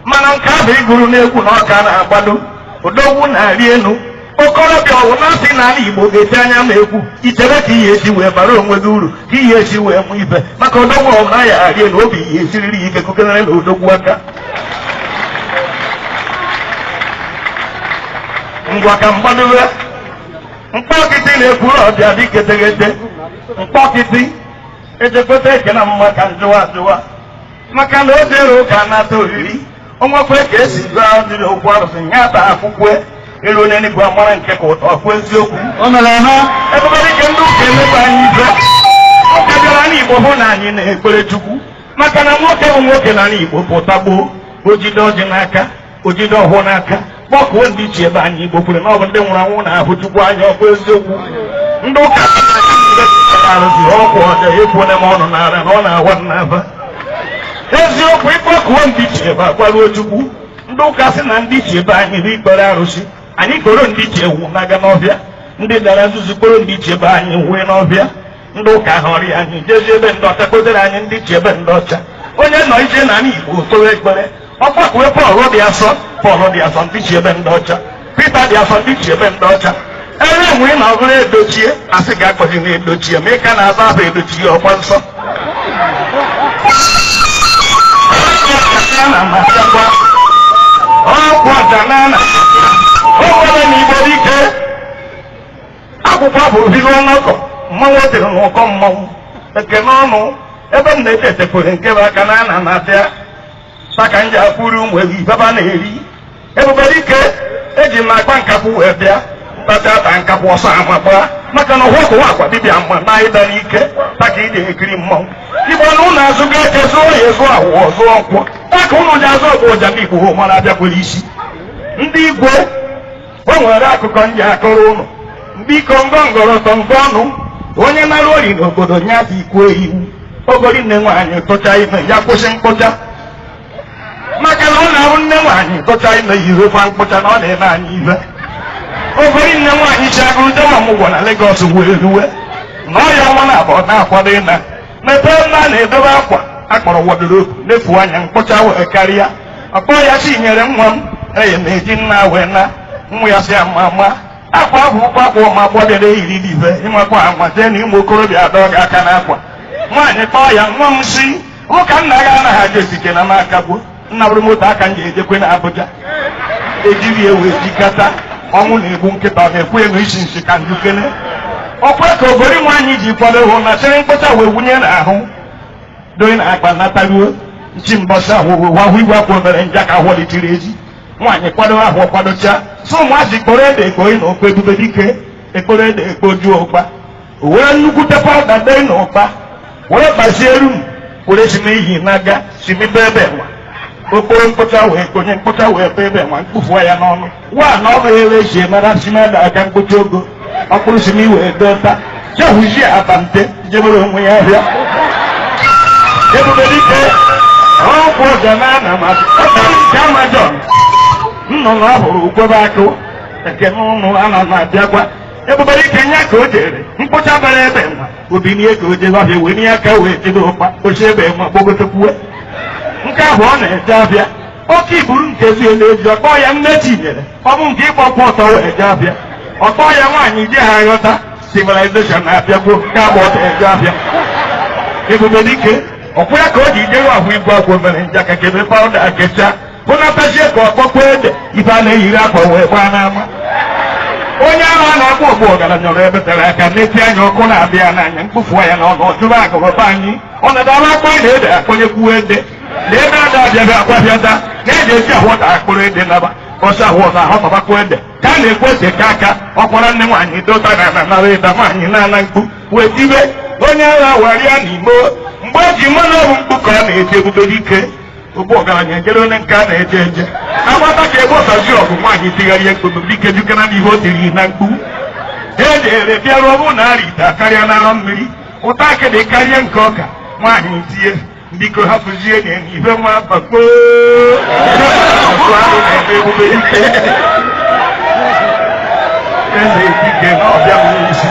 mana nke ahụ ịgụrụ n'egwu na ọka na-agbado odogwu na-arị elu okorobịa ọwụ na-asị na ala igbo ga-eti anya ma egwu i chere ka ihe si wee bara onwe gị uru ka ihe si eme ibe maka odogwu ọwụ na ya arị elu obi ihe esiriri ya ike kụkenere na odogwu aka ngwa ka mgbadowe mkpọkịtị n'Ekwulọbịa dị ke teghete mkpọkịtị ejekweta eke na mma ka njụwa ajụwa maka na o jere ụka nata oriri onwekwe ka esi gụọ adịrị okwu arụsị ya ta akwụkwọ eruo n'enu igwe amara nke ka ụtọ ọkwa eziokwu O mere ha. ebube dike ndị ụka emebe anyị ihe ụka bịara n'igbo hụ na anyị na-ekpere chukwu maka na nwoke bụ nwoke n'ana igbo pụta gboo o jide ọjị n'aka o jide ọfọ n'aka kpọkuo ndị ichie be anyị igbo kwere na ọ bụ ndị nwụrụ anwụ na-ahụ chukwu anya ọkwa eziokwu ndị ụka arụzi ọgbu ọja ekwuole m ọnụ n'ala na ọ na-awa m n'aba eziokwu ịkpọkuo ndị ichie ebe agwaruo chukwu ndị ụka sị na ndị ichie be anyị bụ ikpere arụsị anyị kporo ndị ichie ewu na-aga n'ọhịa ndị dara nzuzu kporo ndị ichie be anyị wee n'ọhịa ndị ụka aghọrịa anyị jezi be ndị ọcha kpotere anyị ndị ichie be ndị ọcha onye nọ ije n'ana igbo kpewe ekpere ọ kpọkuwe pọl dị asọ pọl dị asọ ndị ichie be ndị ọcha pita dị asọ ndị ichie be ndị ọcha ebe enwe ị na-ọbụrụ edochie asị gị akpọghị na edochie ma ị ka na-aza aha edochie ọkwa nsọ Ọkwa na masịakwa, ọkwa ọja na na akwụkwọ abụ obibi ọnụkwụ mmanwụ e tiri n'ụkọ mmanwụ ekene ụnụ ebe m na-eje etekwere nke bụ aka na ana na-abịa maka m ji akwụri ụmụ ewu ibeba na-eri ebube dike eji m na-agba nkakwụ wee bịa mkpata ata nkakwụ ọsọ ama gbaa maka na ụwa kụwa akwa dibịa mma na ịda n'ike taka ị na-ekiri mmanwụ igbo na ụlọ azụ ga eche zụọ ya ezu awụ ọzọ nkwụ taka ụnụ ji azụ ọgbu ọja ndị igbo mara abịakwere isi ndị igwe o nwere akụkọ m ji akọrọ ụnụ biko ngọngọrọtọ ngọ ọnụ onye nara ori n'obodo ya dị ikwu iwu ogori nne nwaanyị tụcha ime ya kwụsị mkpụcha maka na ọ na-ahụ nne nwaanyị tụcha ime yirekwa mkpụcha na ọ na-eme anyị ihe ogori nne nwaanyị si Agụlụ jee ọmụgwọ na Legọs wee ruwe nọọ ya ọnwa naabọ ọ na-akwado ịna mepee ebe a na-edobe akwa a kpọrọ wọdrobu lefuo anya mkpụcha wee karịa ọ kpọ ya sị nyere nwa m efe m eji nna wee na nwa ya sị mama akwa ahụ bụkwa akwa ụmụ agbọghọ bịara eyiri rie ihe ịmakwa anwa jee na ụmụ okorobịa adọ gị aka n'akwa nwaanyị kpọọ ya nwa m si ụka nna gị anaghị aja esike na m akagbuo nna bụrụ moto aka m ji ejekwe na Abuja ejiri ewu ejikata ọnwụ na-egbu nkịta ọ na-ekwe anụ isi nsị ka m jụkene ọkwa ka ogori nwaanyị ji kwado ahụ na chịrị mkpọcha wee wunye n'ahụ doye na akpa nataruo nchi mbọsị ahụ wahụ igwe akwụ obere nja ka ahụ litiri eji nwaanyị kwado ahụ kwadocha so ụmụazị kporo ede ekpori na okpe ebube dike ekporo ede ekpojuo ụkpa o were nnukwute pawụda dee na ụkpa were gbazie iru m were si n'ihi na-aga si mebe ebe nwa okporo mkpụcha wee konye mkpụcha wee be ebe nwa mkpụfuo ya n'ọnụ wa na ọ bụghị ebe eji mara si mada aga mkpụcha ogo ọkpụrụ si n'ihi wee dọta jehuzie abante jebere onwe ya ahịa ebube dike ọkwụ ọja na ana m asị ọkpụrụ nke amajọn nnụnụ ọ hụrụ ukwebe akụ ekene ụnụ ana m abịakwa ebube dike nya ka o jere mkpụcha bara ebe nwa o binie ka o jere ọhịa wee nye aka wee jide ụkpa oche ebe nwa gbogotekwuwe nke ahụ ọ na-eje afịa oke iburu nke ezi elu eji ọkpọ ya nne Chinyere ọ bụ nke ịgbakwa ọtọ wee je afịa ọkpọ ya nwaanyị ji ha ghọta civilization na-abịagwo nke agba ọtọ eje afịa ebube dike ọkwụ ya ka o ji jewe ahụ igwe agwọ mere njakakebe pawụda akecha kpụnatazie ka ọ kpọkwa ede ife a na-eyiri akwa wee gbaa n'ama onye ahụ a na-akpọ ogbu ọgaranya ọrụ ebe tere aka nete anya ọkụ na-abịa n'anya mkpofu ya na ọnụ ọjụrụ agụrụba anyị ọ na-adara akwa na ede akpọnyekwuo ede na ebe ada abịabe akwa bịada na eji eji ahọta mkpụrụ ede naba ọsọ ahọta ahọtabakwa ede ka a na-ekwe ede ka aka ọkwara nne nwaanyị dota na na nara ịda nwaanyị na-ana mkpu wee tibe onye agha warịa n'Igbo mgbe e ji mmanụ ọrụ mkpu ka ọ na-eti ebube dike ogbu ọgaranya ejere onye nke a na-eje eje agbata ka e gbosazie ọgụ nwaanyị tigharịa ebube dike jukana n'ihe o tiri na mkpu ejere bịaruo ọ bụ na arịta karịa n'arọ mmiri ụtọ akịdị karịa nke ọka nwaanyị tie biko hapụzie na ibe nwa bakpo ọkụ ahụ na-eme ebube dike eze dike na ọbịa nwere isi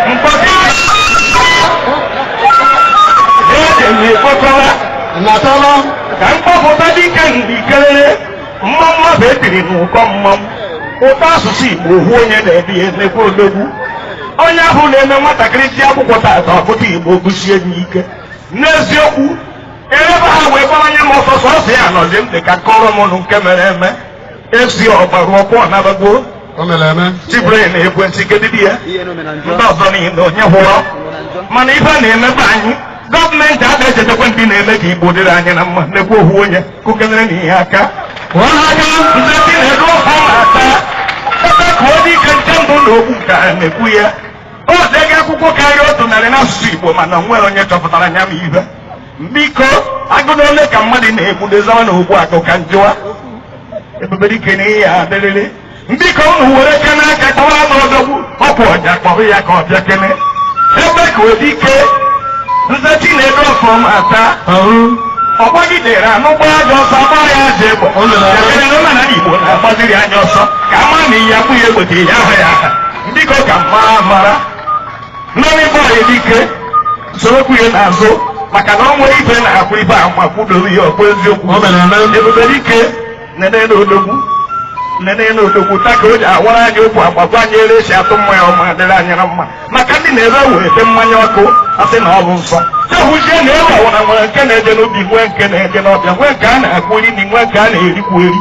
mkpọtụ na-ekenye ekpokọla natala ka m kpọpụta dike ndị kelele mmanwụ ahụ etiri n'ụkọ mmanwụ ụtọ asụsụ Igbo ohu onye na-ede ya emekwa odogwu onye ahụ na-eme nwatakịrị ji akwụkwọ tata ọpụta Igbo gụsie n'ike n'eziokwu erebe ha wee gbara nye m ọsọsọ ọsọ ya nọzi m dị ka kọrọ m nụ nke mere eme FC Ọgbalụ ọkụ ọ nabagwo O mere eme. Cyprian Ekwensi kedidi ya ndị ọzọ niile onye hụrụ mana ife na-emebe anyị gọọmenti a na-echetakwa ndị na-eme ka Igbo dịrị anyị na mma nekwa ohu onye kụkenerenụ ya aka ọhaga ndị dị na-edu ọha na-ata ebe ka ọ dị ike nke mbụ na okwu ka a na-ekwu ya o dega akwụkwọ karịa otu narị n'asụsụ Igbo mana nwere onye chọpụtara nya ma ihe Biko, agụ na ole ka mmadụ na-egbude zawa na Ogbuagụ ka m jụwa. Ebube dike na ihe a dịrịrị. Biko unu were aka n'aka kpọwa nụ odogwu ọkwa ọja kpọrọ ya ka ọ bịa kene Ebekuedike Nze Chinedu Ọfọmata ọ gbagidere anụ gbaa ajọ ọsọ a gbaa ya ajọ egbe. Ekele na ụlọ na Igbo na-agbaziri anya ọsọ ka a mara na ihe akwụ ya egbe ka ihe ahụ ya aha. Biko ka mma mara. Mmanụ ibe ọyị dike soro kwụ ya n'azụ maka na o nwere ife na-akwụ ife a ma kwụdobe ya ọkpụ eziokwu ebube dike nene na odogwu nene na odogwu ta ka o ji awara anyị okwu agbagwa anyị ere e si atụ mmanya ọ ma adịrị anyị na mma maka ndị na-ere wee ete mmanya ọkụ a sị na ọ bụ nsọ chehụzie na ebe ọwara nwere nke na-eje n'obi nwee nke na-eje n'ọbịa nwee nke a na-akwụ eri na nwee nke a na-erikwu eri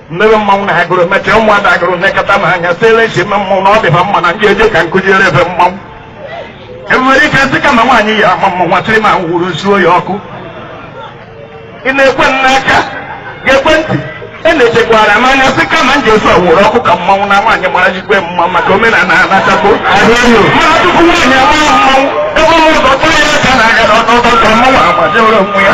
mmebe mmanwụ na agụrụ mechaa ụmụada agụrụ nekọta m anya siele nchi eme mmanwụ na ọ dị ha mma na ndị eje ka nkụziere ebe mmanwụ Ebube dike sị kama nwaanyị ya ama mmanwụ atịrị ma wuru suo ya ọkụ ị na-ekwe m n'aka ga-ekwe ntị e na-echekwara m anya sị kama m ji efe wuru ọkụ ka mmanwụ na nwaanyị mara jikwe mma maka omenala anachapụ mana tupu nwaanyị ama mmanwụ ebe ụmụ ụzọ tụrụ ya aka na aga n'ọtọ ka mmanwụ agbajewere onwe ya